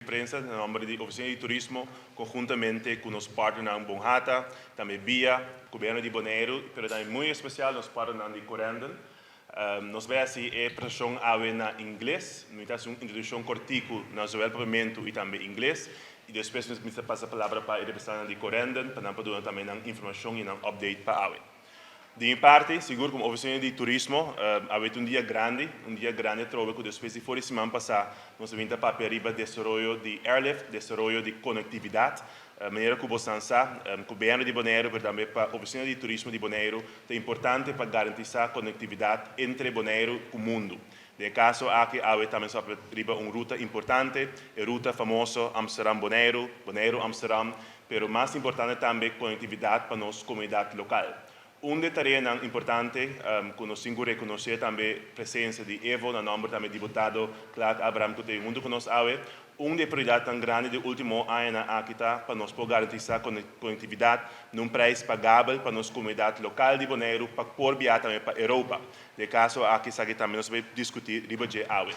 Prensa na nomber di Oficina di Turismo conjuntamente cu nos partnernan Bon Hata, tambe bia Gobierno di Boneiru, pero tambe muy especial nos partnernan di Corendon. Nos bay haci e presentacion awe na Ingles. Mi ta haci un introduccion corticu na zowel Papiamentu y tambe Ingles y despues mi ta pasa palabra pa e representantnan di Corendon pa nan por duna tambe nan informacion y nan update pa awe. Di mi parti, sigur komo ofisionan di turismo, a wet un dia grandi, un dia grandi atrobe ku despues di for di siman pasá nos a bin ta papia riba desaroyo di airlift, desaroyo di konektividat. Manera ku bosnan sa, ku BNR di Boneiru, pero tambe pa ofisionan di turismo di Boneiru, ta importante pa garantisá konektividat entre Boneiru ku mundu. Na e kaso aki awe ta mester papia riba un ruta importante, e ruta famoso Amsterdam-Boneiru, Boneiru-Amsterdam, pero mas importante tambe konektividat pa nos komunidat lokal. Un di e tareanan importante ku nos tin ku rekonosé tambe presensia di Evo na nòmber tambe diputado Clark Abraham ku ta bin huntu ku nos awe. Un di e prioridatnan grandi di último añanan aki ta pa nos por garantisá konektividat na un preis pagabel pa nos komunidat lokal di Boneiru pa por biaha tambe pa Europa. Na e kaso aki esaki tambe nos bai diskutí riba dje awe.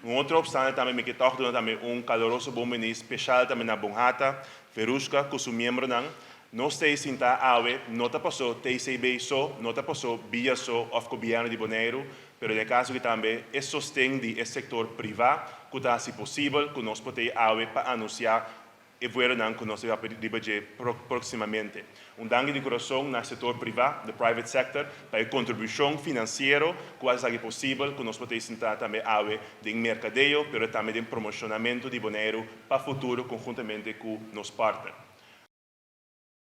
Un otro opstante tambe mi ke tòg duna tambe un kaloroso bon biní speshal tambe na Bonhata, Verushka ku su miembronan. Nos t'ei sintá awe, no ta pasó TCB so, no ta pasó bia so òf Gobièrnu di Boneiru, pero na e kaso aki tambe e sosten di e sektor privá ku ta hasi posibel ku nos por t'ei awe pa anunsiá, e vuelonan cu nos a yape riba dje proximamente. Un danki di curason na sector priva, the private sector, pa e contribucion financiero cu a esaki posibel cu nos por ta esinta tambe awe den mercadeo pero tambe den promocionamento di Boneiru pa futuro conjuntamente cu nos partner.